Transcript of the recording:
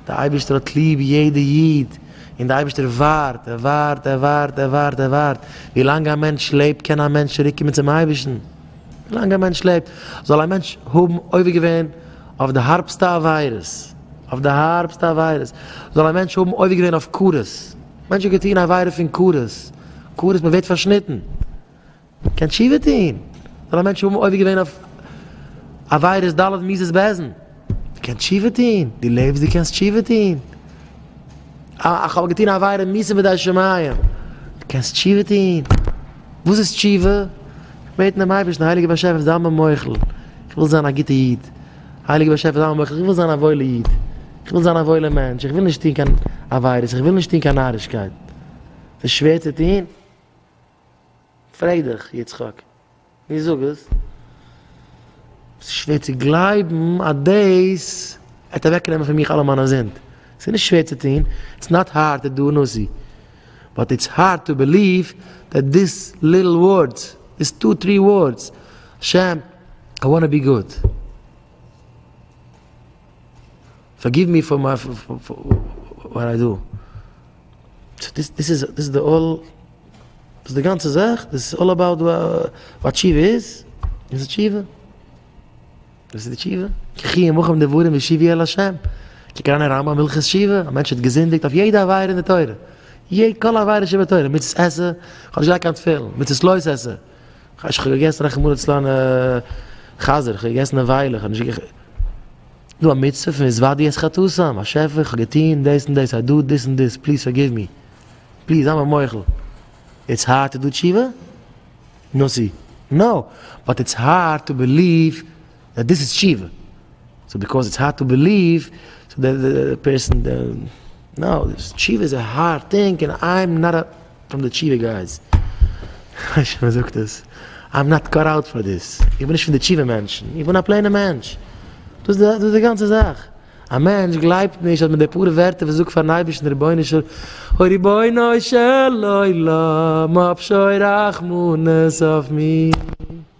דער אייבערשטער האט ליב יעדע איד, און דער אייבערשטער ווארט, ער ווארט, ער ווארט, ער ווארט, ער ווארט, ווי לאנג א מענטש לעבט קען א מענטש צוריק קומען צום אייבערשטן, ווי לאנג א מענטש לעבט, זאל א מענטש האבן עובר געווען אויף די הארבסטע עבירות, אויף די הארבסטע עבירות, זאל א מענטש האבן עובר געווען אויף כרת, א מענטש האט געטון עבירה פון כרת, כרת מען ווערט פארשניטן. קען תשובה טון? זאל א מענטש האבן עובר געווען אויף עבירות ד' מידות בעזן, קען תשובה טון? דו לעבסט דו קענסט תשובה טון? איך האב געטון א עבירה מיתה בידי שמים, קענסט תשובה טון? וואס איז תשובה? בעטן דעם אייבערשטן, הייליגער באשעפער זיי מיר מוחל, איך וויל זיין א גוטע איד, הייליגער באשעפער זיי מיר מוחל, איך וויל זיין א וואוילע איד, איך וויל זיין א וואוילע מענטש, איך וויל נישט טון קיין עבירות, איך וויל נישט טון קיין נארישקייט, ס'איז שווער צו טון? פרעג דיך, יצחק, מיר זאג עס. ס'איז שווער צו גלייבן אז דאס וועט אוועקנעמען פון מיך אלע מיינע זינד. ס'איז נישט שווער צו טון, איטס נאט הארד טו דו נאסי, באט איטס הארד טו בעליוו דעט דיס ליטל ווארדס, דיס טו טרי ווארדס, השם, איי וואנט טו בי גוד. פארגיוו מי פאר וואט איי דו. סאו דאס דאס איז דאס איז די אלל דאס די גאנצע זאך דאס איז אלל אבאוט וואט תשובה איז איז תשובה דאס איז די תשובה ככי ימוכם דברים ושיבי אל השם כקרן הרמבם הלכות תשובה א מענטש האט געזינדיגט אויף יעדע עבירה אין די תורה יעדע כל עבירה שבתורה מצות עשה כאב נישט געהאט קיין תפילין מצות לא עשה כאטש כ'האב געגעסן רחמנא ליצלן א חזיר, כ'האב געגעסן א וויילער, כ'האב נישט געגעסן. דא א מצוה פון התוודות את חטאתם, באשעפער איך האב געטון דאס און דאס, איי דא דאס און דאס, פליז פארגיוו מי, פליז זיי מיר מוחל. איטס הארד טו דו תשובה? נאו סי. נאו. באט איטס הארד טו בעליוו. דעט דיס איז תשובה, סאו ביקאוז איטס הארד טו בעליוו, סאו די פערסאן די, נאו, תשובה איז א הארד טינג און איים נאט א פרום די תשובה גייס, כ'ווייס נישט ווי מ'זאגט עס, איים נאט קאט אוט פאר דיס, איך בין נישט פון די תשובה מענטשן, איך בין א פלעינע מענטש, דאס איז די גאנצע זאך, א מענטש גלייבט נישט אז מיט די פאר ווערטער וואס ער זאגט פארן אייבערשטן רבונו של אוי רבונו של עולם האב שוין רחמנות אויף מיר.